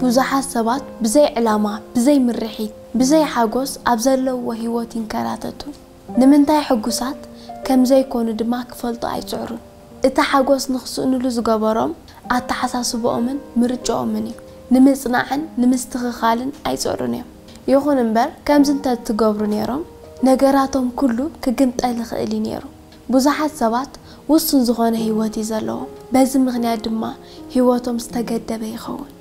ብዙሓት ሰባት ብዘይ ዕላማ፣ ብዘይ ምርሒት፣ ብዘይ ሓጎስ ኣብ ዘለዉዎ ህይወት ይንከራተቱ። ንምንታይ ሕጉሳት ከም ዘይኰኑ ድማ ክፈልጡ ኣይጽዕሩን። እቲ ሓጐስ ንኽስእንሉ ዝገበሮም፣ ኣተሓሳስባኦምን ምርጫኦምን እዩ። ንምጽናዕን ንምስትኽኻልን ኣይጽዕሩን እዮም። ይኹን እምበር፣ ከምዚ እንተ ትገብሩ ነይሮም፣ ነገራቶም ኵሉ ክግምጠል ይኽእል እዩ ነይሩ። ብዙሓት ሰባት ውሱን ዝዀነ ህይወት እዩ ዘለዎም፣ በዚ ምኽንያት ድማ ህይወቶም ዝተገደበ ይኸውን።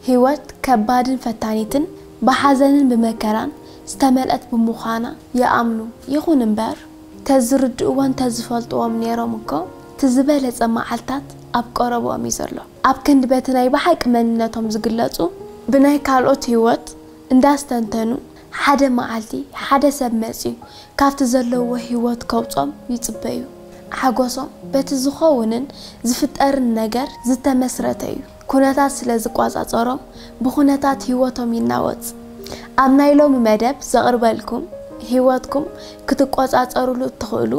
ህይወት ከባድን ፈታኒትን ብሓዘንን ብመከራን ዝተመልአት ብምዃና ይኣምኑ። ይኹን እምበር፣ እንተ ዝርድእዎን እንተ ዝፈልጥዎን ነይሮም እኮ እቲ ዝበለጸ መዓልታት ኣብ ቀረብኦም እዩ ዘሎ። ኣብ ክንዲ በቲ ናይ ብሓቂ መንነቶም ዝግለጹ፣ ብናይ ካልኦት ህይወት እንዳስተንተኑ ሓደ መዓልቲ ሓደ ሰብ መጺኡ ካብቲ ዘለዉዎ ህይወት ከውጾም ይጽበዩ። ሓጎሶም በቲ ዝኸውንን ዝፍጠርን ነገር ዝተመስረተ እዩ። ኩነታት ስለ ዝቆጻጸሮም ብኩነታት ህይወቶም ይናወጽ። ኣብ ናይ ሎሚ መደብ ዘቕርበልኩም ህይወትኩም ክትቆጻጸርሉ እትኽእሉ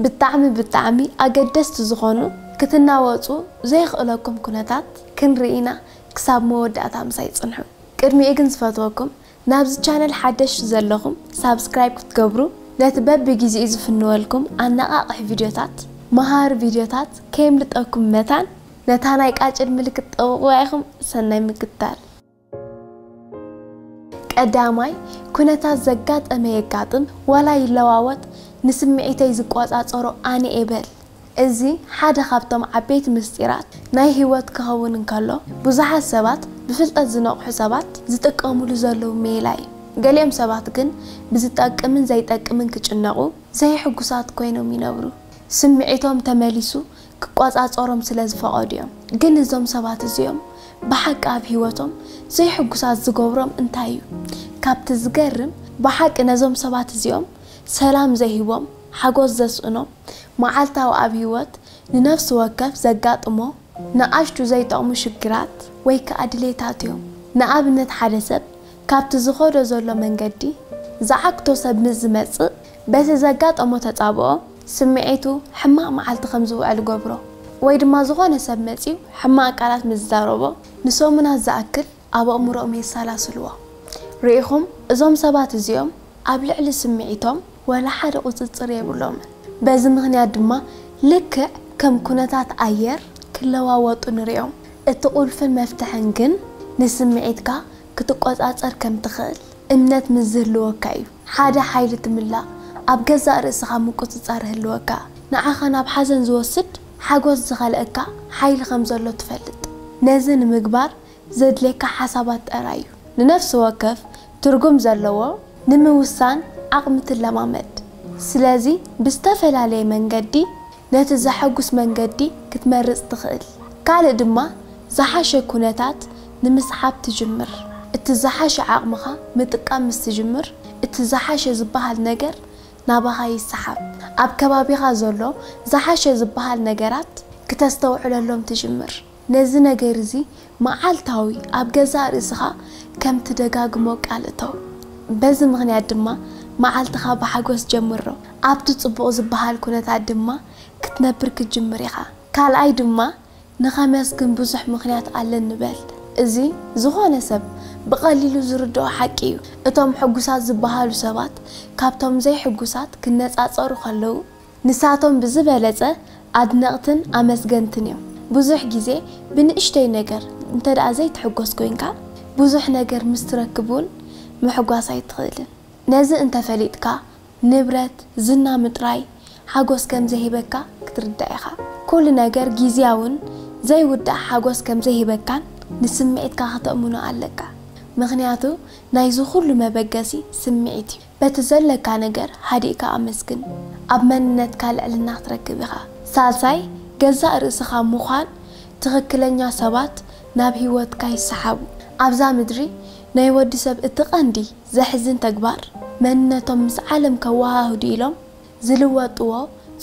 ብጣዕሚ ብጣዕሚ ኣገደስቲ ዝኾኑ ክትናወጹ ዘየኽእለኩም ኩነታት ክንርኢ ኢና ክሳብ መወዳእታ ምሳይ ጽንሑ። ቅድሚኡ ግን ዝፈትወኩም ናብዚ ቻነል ሓደሽቲ ዘለኹም ሳብስክራይብ ክትገብሩ ነቲ በቢ ጊዜኡ ዝፍንወልኩም ኣነቓቕሒ ቪድዮታት መሃሪ ቪድዮታት ከየምልጠኩም መታን ነታ ናይ ቃጭል ምልክት ጠውቑዋ ኢኹም ሰናይ ምክትታል። ቀዳማይ ኩነታት ዘጋጠመ የጋጥም ዋላ ይለዋወጥ ንስምዒተይ ዝቆጻጸሮ ኣነ'የ በል። እዚ ሓደ ኻብቶም ዓበይቲ ምስጢራት ናይ ህይወት ኪኸውን እንከሎ፣ ብዙሓት ሰባት፣ ብፍልጠት ዝነቕሑ ሰባት፣ ዚጥቀሙሉ ዘለዉ ሜላ እዩ። ገሊኦም ሰባት ግን ብዚጠቅምን ዘይጠቅምን ኪጭነቑ፣ ዘይሕጉሳት ኰይኖም ይነብሩ። ስምዒቶም ተመሊሱ ኪቈጻጸሮም ስለ ዝፈቐዱ እዮም። ግን እዞም ሰባት እዚኦም ብሓቂ ኣብ ህይወቶም ዘይሕጉሳት ዚገብሮም እንታይ እዩ? ካብቲ ዚገርም፣ ብሓቂ ነዞም ሰባት እዚኦም ሰላም ዘይህቦም፣ ሓጎስ ዘስእኖ መዓልታዊ ኣብ ህይወት ንነፍሲ ወከፍ ዘጋጥሞ ንኣሽቱ ዘይጠቕሙ ሽግራት ወይ ከኣ ድሌታት እዮም። ንኣብነት ሓደ ሰብ ካብቲ ዝኸዶ ዘሎ መንገዲ ዝዓግቶ ሰብ ምስ ዝመጽእ በቲ ዘጋጠሞ ተጻብኦ ስምዒቱ ሕማቕ መዓልቲ ከም ዝውዕል እገብሮ። ወይ ድማ ዝኾነ ሰብ መጺኡ ሕማቕ ቃላት ምስ ዝዛረቦ ንሰሙናት ዝኣክል ኣብ ኣእምሮኦም የሰላስልዎ። ርኢኹም፣ እዞም ሰባት እዚኦም ኣብ ልዕሊ ስምዒቶም ዋላ ሓደ ቁጽጽር የብሎምን። በዚ ምኽንያት ድማ ልክዕ ከም ኩነታት ኣየር ክለዋወጡ ንሪኦም። እቲ ቁልፍን መፍትሕን ግን ንስምዒትካ ክትቆጻጸር ከም ትኽእል እምነት ምስ ዝህልወካ እዩ። ሓደ ሓይሊ ትምላእ፣ ኣብ ገዛእ ርእስኻ ምቁጽጻር ይህልወካ። ንዓኻ ናብ ሓዘን ዝወስድ ሓጎስ ዝኸልኣካ ሓይሊ ከም ዘሎ ትፈልጥ። ነዚ ንምግባር ዘድልየካ ሓሳባት ጠራይ እዩ። ንነፍሲ ወከፍ ትርጉም ዘለዎ ንምውሳን ዓቕሚ ትለማመድ። ስለዚ ብዝተፈላለየ መንገዲ ነቲ ዘሐጉስ መንገዲ ክትመርጽ ትኽእል። ካልእ ድማ ዝሓሸ ኩነታት ንምስዓብ ትጅምር። እቲ ዝሓሸ ዓቕምኻ ምጥቃም ምስ ትጅምር እቲ ዝሓሸ ዝበሃል ነገር ናባኻ ይሰሓብ። ኣብ ከባቢኻ ዘሎ ዝሓሸ ዝበሃል ነገራት ክተስተውዕለሎም ትጅምር። ነዚ ነገር እዚ መዓልታዊ ኣብ ገዛእ ርእስኻ ከም ትደጋግሞ ቃል እተው። በዚ ምኽንያት ድማ መዓልትኻ ብሓጐስ ጀምሮ። ኣብቲ ጽቡቕ ዝበሃል ኵነታት ድማ ክትነብር ክትጅምር ኢኻ። ካልኣይ ድማ ንኸመስግን ብዙሕ ምኽንያት ኣለኒ በል። እዚ ዝዀነ ሰብ ብቐሊሉ ዝርድኦ ሓቂ ኢዩ። እቶም ሕጉሳት ዝበሃሉ ሰባት ካብቶም ዘይሕጉሳት ክነጻጸሩ ከለዉ ንሳቶም ብዝበለጸ ኣድነቕትን ኣመስገንትን እዮም። ብዙሕ ግዜ ብንእሽቶይ ነገር እንተድኣ ዘይትሕጎስ ኮይንካ፣ ብዙሕ ነገር ምስ ትረክብ እውን ምሕጓስ ኣይትኽእልን። ነዚ እንተ ፈሊጥካ፣ ንብረት፣ ዝና ምጥራይ ሓጎስ ከም ዘይህበካ ክትርዳእ ኢኻ። ኩሉ ነገር ግዝያውን ዘይውዳእ ሓጎስ ከም ዘይህበካን ንስምዒትካ ከተእምኖ ኣለካ። ምኽንያቱ ናይዚ ኩሉ መበገሲ ስምዒት እዩ። በቲ ዘለካ ነገር ሃዲእካ ኣመስግን፣ ኣብ መንነትካ ልዕልና ክትረክብ ኢኻ። ሳልሳይ፣ ገዛእ ርእስኻ ምዃን፣ ትኽክለኛ ሰባት ናብ ህይወትካ ይሰሓቡ። ኣብዛ ምድሪ ናይ ወዲ ሰብ እቲ ቀንዲ ዘሕዝን ተግባር፣ መንነቶም ምስ ዓለም ከወሃህዱ ኢሎም ዝልወጥዎ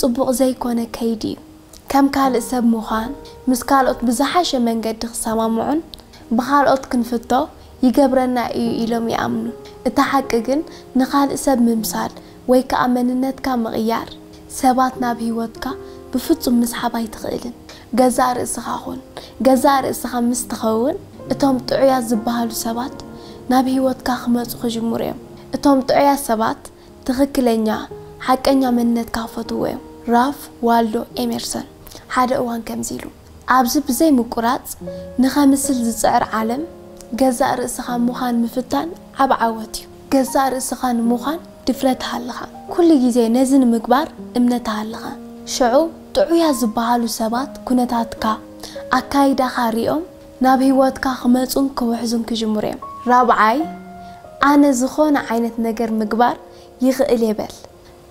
ጽቡቕ ዘይኮነ ከይዲ እዩ። ከም ካልእ ሰብ ምዃን፣ ምስ ካልኦት ብዝሓሸ መንገዲ ክሰማምዑን ብኻልኦት ክንፍቶ ይገብረና እዩ ኢሎም ይኣምኑ። እቲ ሓቂ ግን ንኻልእ ሰብ ምምሳል ወይ ከኣ መንነትካ ምቕያር ሰባት ናብ ህይወትካ ብፍጹም ምስሓብ ኣይትኽእልን። ገዛእ ርእስኻ ኩን። ገዛእ ርእስኻ ምስ ትኸውን እቶም ጥዑያት ዝበሃሉ ሰባት ናብ ህይወትካ ክመጹ ክጅምሩ እዮም። እቶም ጥዑያት ሰባት ትኽክለኛ ሓቀኛ መንነትካ ክፈትውዎ እዮም ራፍ ዋልዶ ኤሜርሰን ሓደ እዋን ከምዚ ኢሉ ኣብዚ ብዘይ ምቁራጽ ንኸምስል ዝጽዕር ዓለም ገዛእ ርእስኻ ምዃን ምፍታን ዓቢ ዓወት እዩ ገዛእ ርእስኻ ንምዃን ድፍረት ሃልኻ ኩሉ ግዜ ነዚ ንምግባር እምነት ሃልኻ ሸዑ ጥዑያት ዝበሃሉ ሰባት ኩነታትካ ኣካይዳኻ ሪኦም ናብ ህይወትካ ክመጹን ክውሕዙን ክጅምሩ እዮም። ራብዓይ፣ ኣነ ዝኾነ ዓይነት ነገር ምግባር ይኽእል እየ በል።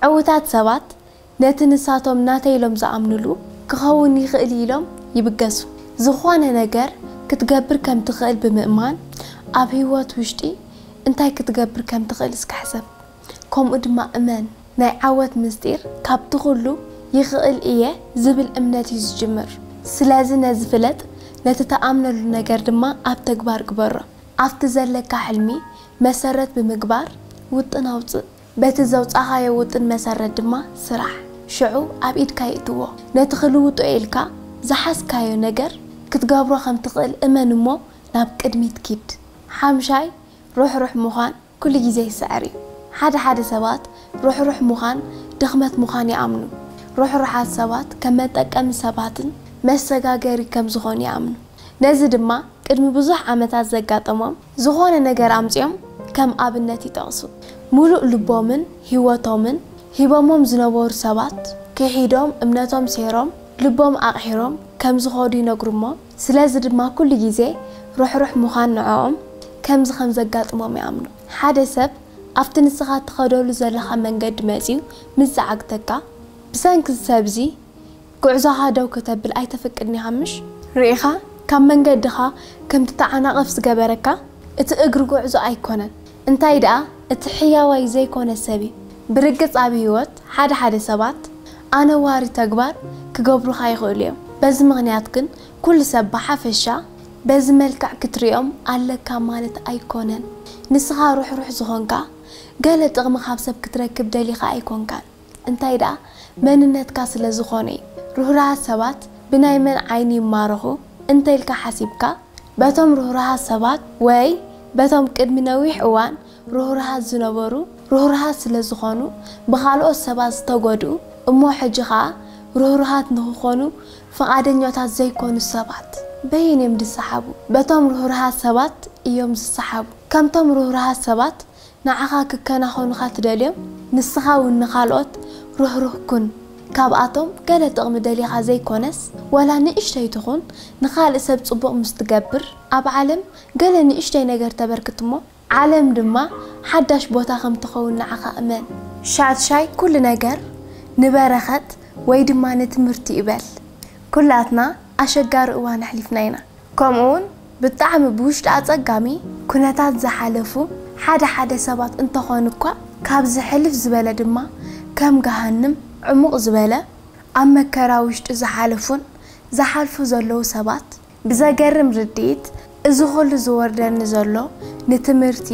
ዕዉታት ሰባት ነቲ ንሳቶም ናተይ ኢሎም ዝኣምኑሉ ክኸውን ይኽእል እዩ ኢሎም ይብገሱ። ዝኾነ ነገር ክትገብር ከም ትኽእል ብምእማን ኣብ ህይወት ውሽጢ እንታይ ክትገብር ከም ትኽእል እስከ ሕሰብ። ከምኡ ድማ እመን፣ ናይ ዓወት ምስጢር ካብቲ ኹሉ ይኽእል እየ ዝብል እምነት እዩ ዝጅምር። ስለዚ ነዚ ፍለጥ፣ ነቲ ትኣምነሉ ነገር ድማ ኣብ ተግባር ግበሮ። ኣብቲ ዘለካ ሕልሚ መሰረት ብምግባር ውጥን ኣውጽእ። በቲ ዘውጻኻዮ ውጥን መሰረት ድማ ስራሕ። ሽዑ ኣብ ኢድካ ይእትዎ። ነቲ ክልውጦ እየ ኢልካ ዝሓዝካዮ ነገር ክትገብሮ ከም ትኽእል እመን እሞ ናብ ቅድሚት ኪድ። ሓምሻይ፣ ርሕሩሕ ምዃን። ኩሉ ግዜ ይስዕር እዩ። ሓደ ሓደ ሰባት ርሕሩሕ ምዃን ድኽመት ምዃን ይኣምኑ። ርሕሩሓት ሰባት ከም መጠቀሚ ሰባትን መሰጋገሪ ከም ዝኾኑ ይኣምኑ። ነዚ ድማ ቅድሚ ብዙሕ ዓመታት ዘጋጠሞም ዝኾነ ነገር ኣምጺኦም ከም ኣብነት ይጠቕሱ። ምሉእ ልቦምን ህይወቶምን ሂቦሞም ዝነበሩ ሰባት ክሒዶም እምነቶም ሴሮም ልቦም ኣቕሒሮም ከም ዝኸዱ ይነግሩ እሞ፣ ስለዚ ድማ ኩሉ ግዜ ርሕሩሕ ምዃን ንዕኦም ከምዚ ከም ዘጋጥሞም ይኣምኑ። ሓደ ሰብ ኣብቲ ንስኻ እትኸደሉ ዘለኻ መንገዲ መጺኡ ምስ ዝዓግተካ፣ ብሰንኪ እዚ ሰብ'ዚ ጉዕዞኻ ደው ከተብል ኣይተፍቅድን ኢኻ ምሽ? ርኢኻ ካብ መንገድኻ ከም ትተዓናቐፍ ዝገበረካ እቲ እግሪ ጉዕዞ ኣይኮነን። እንታይ ደኣ እቲ ሕያዋይ ዘይኮነ ሰብ እዩ። ብርግጽ ኣብ ህይወት ሓደ ሓደ ሰባት ኣነዋሪ ተግባር ክገብሩኻ ይኽእሉ እዮም። በዚ ምኽንያት ግን ኩሉ ሰብ ብሓፈሻ በዚ መልክዕ ክትርእዮም ኣለካ ማለት ኣይኮነን። ንስኻ ርሕሩሕ ዝኾንካ ገለ ጥቕሚ ካብ ሰብ ክትረክብ ደሊኻ ኣይኮንካን። እንታይ ደኣ መንነትካ ስለ ዝኾነ'ዩ። ርህሩሃት ሰባት ብናይ መን ዓይኒ ይማረኹ እንተ ኢልካ ሓሲብካ? በቶም ርህሩሃት ሰባት ወይ በቶም ቅድሚ ነዊሕ እዋን ርህሩሃት ዝነበሩ ርህሩሃት ስለ ዝኾኑ ብኻልኦት ሰባት ዝተጎድኡ እሞ ሕጂ ከኣ ርህሩሃት ንኽኾኑ ፍቓደኛታት ዘይኮኑ ሰባት በየን እዮም ዝሰሓቡ? በቶም ርህሩሃት ሰባት እዮም ዝሰሓቡ። ከምቶም ርህሩሃት ሰባት ንዓኻ ክከናኸኑኻ ትደልዮም፣ ንስኻ እውን ንኻልኦት ርህሩህ ኩን። ካብኣቶም ገለ ጥቕሚ ደሊኻ ዘይኰነስ፣ ዋላ ንእሽተይ ትኹን ንኻልእ ሰብ ጽቡቕ ምስ ትገብር፣ ኣብ ዓለም ገለ ንእሽተይ ነገር ተበርክት እሞ፣ ዓለም ድማ ሓዳሽ ቦታ ከም ትኸውን ንዓኻ እመን። ሻድሻይ ኵሉ ነገር ንበረኸት ወይ ድማ ንትምህርቲ እዩ በል። ኵላትና ኣሸጋሪ እዋን ኣሕሊፍና ኢና። ከምኡ'ውን ብጣዕሚ ብውሽጢ ኣጸጋሚ ኩነታት ዝሓለፉ ሓደ ሓደ ሰባት እንተኾኑ'ኳ ካብዚ ሕልፍ ዝበለ ድማ ከም ገሃንም ዕሙቕ ዝበለ ኣብ መከራ ውሽጢ ዝሓለፉን ዝሓልፉ ዘለዉ ሰባት ብዘገርም ርድኢት እዚ ኩሉ ዝወርደኒ ዘሎ ንትምህርቲ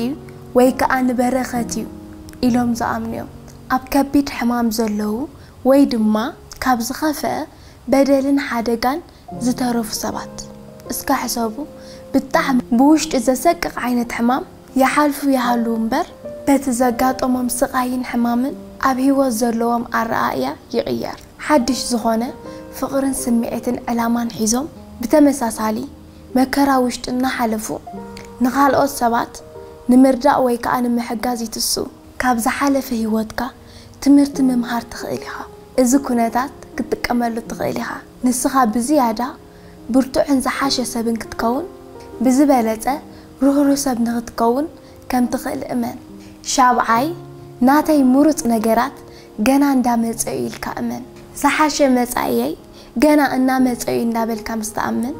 ወይ ከኣ ንበረኸት'ዩ ኢሎም ዝኣምኑ'ዮም ኣብ ከቢድ ሕማም ዘለዉ ወይ ድማ ካብ ዝኸፍኣ በደልን ሓደጋን ዝተረፉ ሰባት እስከ ሕሰቡ ብጣዕሚ ብውሽጢ ዘሰቅቅ ዓይነት ሕማም ይሓልፉ ይሃልዉ እምበር በቲ ዘጋጠሞም ስቃይን ሕማምን ኣብ ሂወት ዘለዎም ኣረኣእያ ይቅየር ሓድሽ ዝኮነ ፍቅርን ስምዒትን ዕላማን ሒዞም ብተመሳሳሊ መከራ ውሽጢ እናሓለፉ ንካልኦት ሰባት ንምርዳእ ወይ ከዓ ንምሕጋዝ ይትስኡ። ካብ ዝሓለፈ ሂወትካ ትምህርቲ ምምሃር ትክእል ኢካ እዚ ኩነታት ክትጥቀመሉ ትክእል ኢካ። ንስኻ ብዝያዳ ብርቱዕን ዝሓሸ ሰብን ክትከውን፣ ብዝበለጸ ርህሩህ ሰብ ንኽትከውን ከም ትኽእል እመን። ሻብዓይ፣ ናተይ ምሩጽ ነገራት ገና እንዳ መጸ'ዩ ኢልካ እመን። ዝሓሸ መጻኢየይ ገና እናመጸ'ዩ እንዳበልካ ምስ ትኣምን፣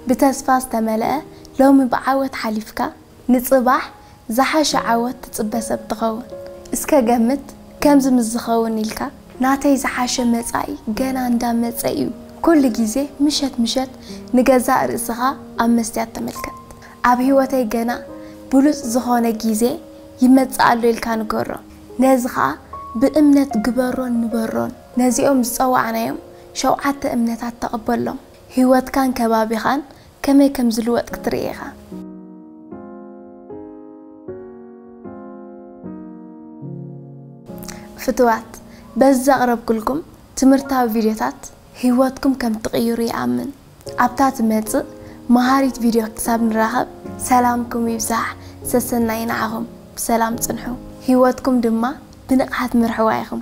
ብተስፋ ዝተመልአ ሎሚ ብዓወት ሓሊፍካ፣ ንጽባሕ ዝሓሸ ዓወት ትጽበ ሰብ ትኸውን። እስከ ገምት ከምዚ ምስ ዝኸውን ኢልካ። ናተይ ዝሓሸ መጻኢ ገና እንዳ መጸ ኢዩ። ኩሉ ግዜ ምሸት ምሸት ንገዛእ ርእስኻ ኣብ መስትያት ተመልከት። ኣብ ሂወተይ ገና ብሉጽ ዝኾነ ግዜ ይመጽእ ኣሎ ኢልካ ንገሮ። ነዚ ከኣ ብእምነት ግበሮን ንበሮን። ነዚኦም ዝጸዋዕናዮም ሸውዓተ እምነታት ተቐበሎም። ሂወትካን ከባቢኻን ከመይ ከም ዝልወጥ ክትርኢ ኢኻ። ፍቱዋት፣ በዚ ዘቕረብኩልኩም ትምህርታዊ ቪድዮታት ህይወትኩም ከም ትቕይሩ ይኣምን። ኣብታ ትመጽእ መሃሪት ቪድዮ ክሳብ ንራኸብ ሰላምኩም ይብዛሕ፣ ሰሰናዩ ንዓኹም። ብሰላም ጽንሑ፣ ህይወትኩም ድማ ብንቕሓት ምርሕዋ ኢኹም።